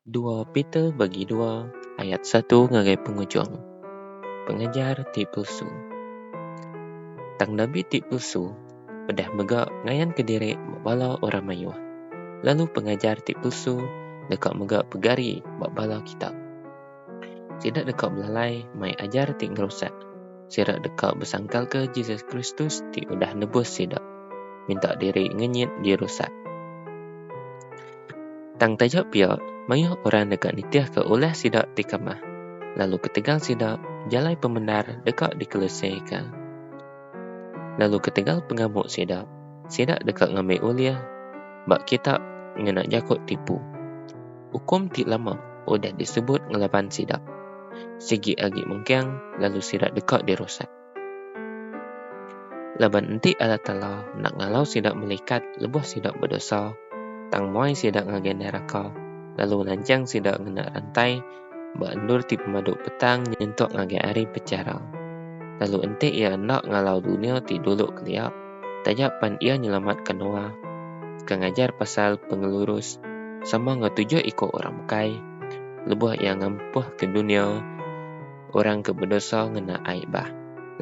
dua Peter bagi dua ayat satu ngagai pengujung, pengajar ti pulsu. Tang nabi ti pulsu udah mega ngayanka diri ba bala orang mayuh, lalu pengajar ti pulsu deka mega pegari ba bala kitab. Sida deka belalai mai ajar ti ngerusak. Sida deka besangkalka Jesus Kristus ti udah nebus sida, minta diri ngenyit dirusak. Tang taja pia, mayuh orang deka nitihka ulah sida ti kamah, lalu ketegal sida, jalai pemendar deka dikelusika. Lalu ketegal pengamu sida, sida deka ngambi ulih ba kitak ngena jaku tipu. ukum ti lama udah disebut ngelaban sida. Sigi agi mengkang lalu sida deka dirusak. Laban enti Allah Taala enda ngalau sida melikat lebuh sida bedosa, tang muai sida ngagai neraka lalu nanchang sida ngena rantai ba endur ti pemadu petang nyentuk ngagai Hari Pechara. Lalu enti Iya enda ngalau dunya ti dulu kelia, taja pan iya nyelamatka Noa, ke ngajar pasal pengelurus sama enggau tujuh iku orang bukai lebuh iya ngampuhka dunya orang ke bedosa ngena ai bah,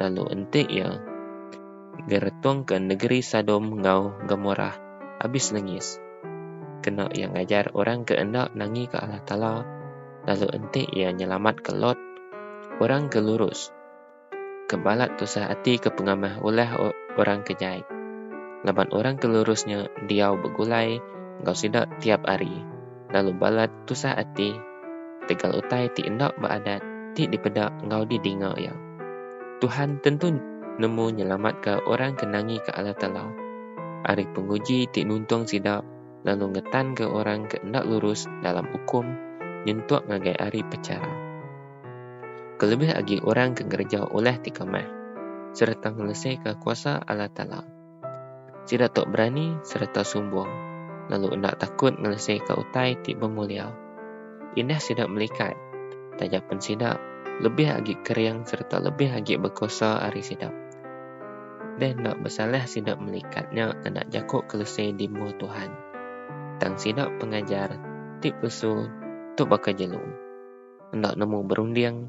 lalu enti iya ngeretungka negeri Sadom enggau Gomorah abis lengis. Kena iya ngajar orang ke enda nangika Allah Taala, lalu enti iya nyelamatka Lot, orang ke lurus. ke balat tusah ati ke pengamah ulah orang ke jai laban orang ke lurus nya diau begulai enggau sida tiap hari lalu balat tusah ati tegal utai ti enda ba adat ti dipeda enggau didinga iya. Tuhan tentu nemu nyelamatka orang ke nangika Allah Taala ari penguji ti nuntung sida lalu ngetanka orang ke enda lurus dalam ukum nyentuk ngagai Hari Pechara. kelebih agi orang ke ngereja ulah ti kamah sereta ngeleseka kuasa Allah Taala. Sida tu berani sereta sumbung, lalu enda takut ngeleseka utai ti bemulia. Indah sida melikat, taja pen sida lebih agi kering sereta lebih agi bekuasa ari sida. Deh enda besalah sida melikat nya enda jaku kelese di mua Tuhan, tang sida pengajar ti palsu tu baka jelu. enda nemu berunding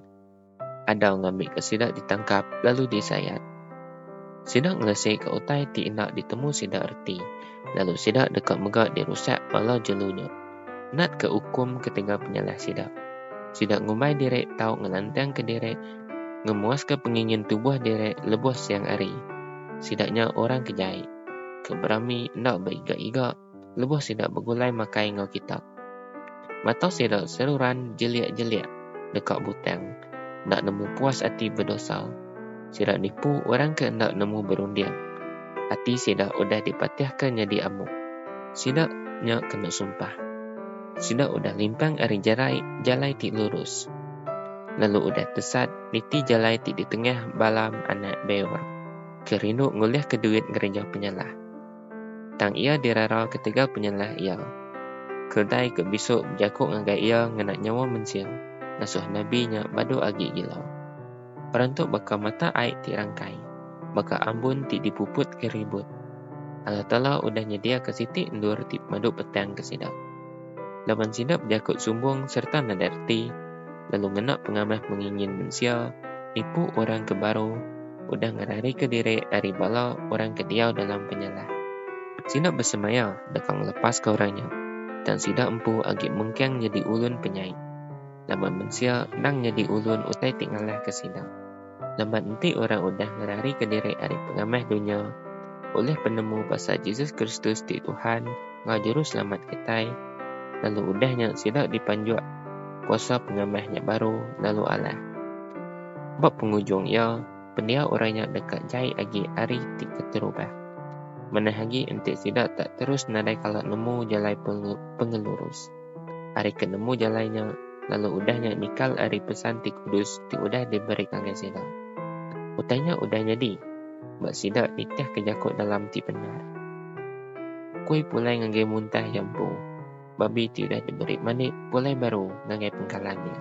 Adau ngambika sida ditangkap lalu disayat. Sida ngelisika utai ti enda ditemu sida reti lalu sida deka mega dirusak bala jelu nya. Natka ukum ketegal penyalah sida. Sida ngumbai diri tau ngelantangka diri ngemuaska pengingin tubuh diri lebuh siang hari. Sida nya orang ke jai, ke berami enda beiga-iga. lebuh sida begulai makai enggau kitab. Mata sida seruran jelik-jelik deka butang, enda nemu puas ati bedosa. Sida nipu orang ke enda nemu berunding. Ati sida udah dipatihka nyadi amu. Sida nya kena sumpah. Sida udah limpang ari jerai jalai ti lurus, lalu udah tesat niti jalai ti ditengah Balaam anak Beor, ke rindu ngulihka duit ngereja penyalah. Tang iya dirara ketegal penyalah iya. Keldai ke bisu bejaku ngagai iya ngena nyawa mensia ngasuh nabi nya badu agi gila. Perantu baka mata ai ti rangkai, baka ambun ti dipuput ke ribut. Allah Taala udah nyediaka siti endur ti pemadu petang ke sida. laban sida bejaku sumbung sereta nadai reti, lalu ngena pengamah pengingin mensia, nipu orang ke baru, udah ngerarika diri ari bala orang ke diau dalam penyalah. Sida besemaya deka ngelepaska orang nya, tang sida empu agi mengkang nyadi ulun penyai, laban mensia endang nyadi ulun utai ti ngalahka sida. Laban enti orang udah ngerarika diri ari pengamah dunya, ulih penemu pasal Jesus Kristus ti Tuhan enggau Juruselamat kitai, lalu udah nya sida dipanjuk kuasa pengamah nya baru lalu alah. Ba pengujung iya, pendiau orang nya deka jai agi ari ti keterubah. Manah agi enti sida tak terus nadai kala nemu jalai pengelurus. ari ke nemu jalai nya, lalu udah nya nikal ari pesan ti kudus ti udah diberi ngagai sida. Utai nya udah nyadi ba sida nitihka jaku dalam ti bendar. Kui pulai ngagai muntah iya empu, babi ti udah diberi manik pulai baru ngagai pengkalan iya.